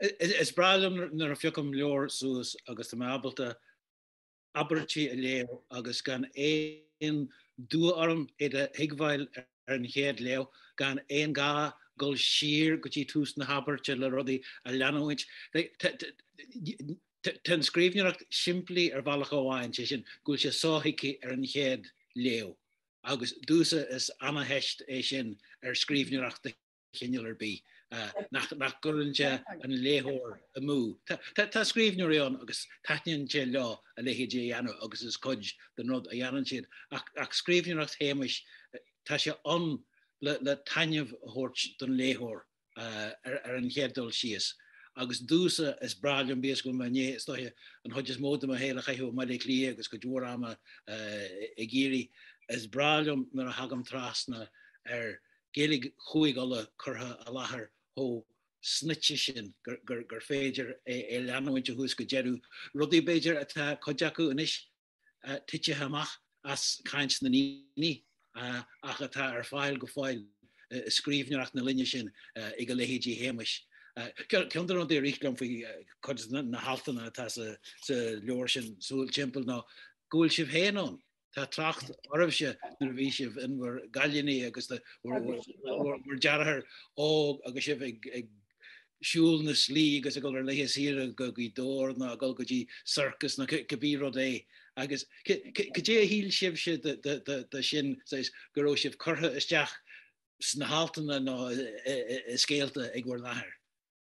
Is breá liom nuair a phiocaim leabhar suas agus tá mé ábalta abairtí a léamh agus gan aon dua orm iad a thuigbheáil ar an chéad léamh, gan aon ghá dul siar go dtí tús na habairte le rudaí a leanúint. Tá an scríbhneoireacht simplí ar bhealach amháin, sé sin, go bhfuil sé sothuigthe ar an chéad léamh, agus domhsa is ana-theist é sin ar scríbhneoireacht de chineál ar bith nach gcuireann sé an léitheoir amú. Tá scríbhneoirí ann agus taitníonn sé leo a leithéid a dhéanamh agus is cuid den rud a dhéanann siad, ach scríbhneoireacht Shéamais, tá sé ann le taitneamh a thabhairt don léitheoir ar an chéad dul síos. Agus domhsa, is breá liom bíodh is go bhfuil mé i ndiaidh, is dóiche an chuid is mó de mo shaol a chaitheamh i mBaile Átha Cliath agus cuid mhór ama i gCiarraí, is breá liom nuair a thagaim trasna ar Gaeilge Chúige Uladh curtha i láthair chomh snoite sin gur féidir é a leanúint ó thús go deireadh, rudaí, b'fhéidir, atá cuid acu anois titithe amach as caint na ndaoine ach atá ar fáil go fóill i scríbhneoireacht na linne sin ag a leithéidí Shéamais. Ceann de na rudaí a rith liom faoi chuid de na haltanna atá sa leabhar sin, Súil Timpeall, ná go bhfuil sibh féin ann, Tá trácht oraibhse nuair a bhí sibh in bhur gcailíní agus bhur deartháir óg agus sibh ag siúl na slí agus ag dul ar laethe saoire go dtí Dobhar nó ag dul go dtí circus nó cibé rud é agus cad é a shíl sibhse de sin go raibh sibh curtha isteach sna haltanna nó i scéalta ag bhur n-athair?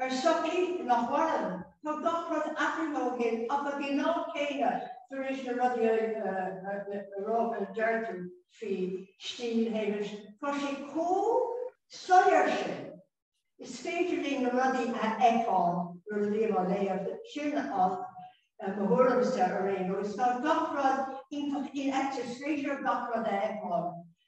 Ar shochaí nach mhaireann, tá gach rud athraithe ó shin ach ag an am céanna tar éis na rudaí a rá a deir tú faoi stíl Shéamais, tá sé chomh soiléir sin, is féidir linn na rudaí a fheiceáil nuair a bhím á léamh, sin é mo thuairimse ar aon nós. Tá gach rud iontach infheicthe, is féidir gach rud a fheiceáil.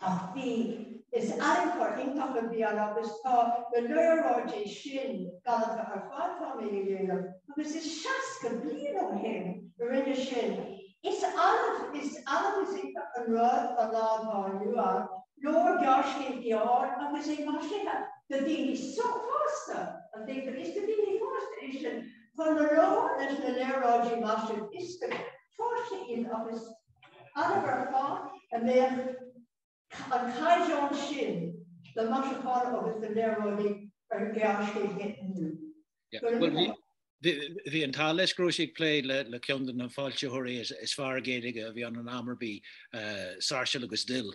Ach bhí, is eagarthóir iontach a bhí ann agus tá na léaráidí sin galanta ar fad, tá mé a dhéanamh agus is seasca bliain ó shin a rinne sin. Is annamh, is annamh is iontach an rud sa lá atá inniu ann, leabhar gearrscéil gearr agus é maisithe do dhaoine fásta, an dtuigtear, is do dhaoine fásta é sin chun a rá leis na léaráidí maisithe, is go fáiscthe iad agus Adharfá a mbeadh an caighdeán sin de mhaisiúchán agus de léaráidí ar ghearrscéalta inniu. Bhí an t-ádh leis go raibh sí ag plé le ceann de na foilsitheoirí is fearr Gaeilge a bhí ann in am ar bith, Sáirséal agus Dill.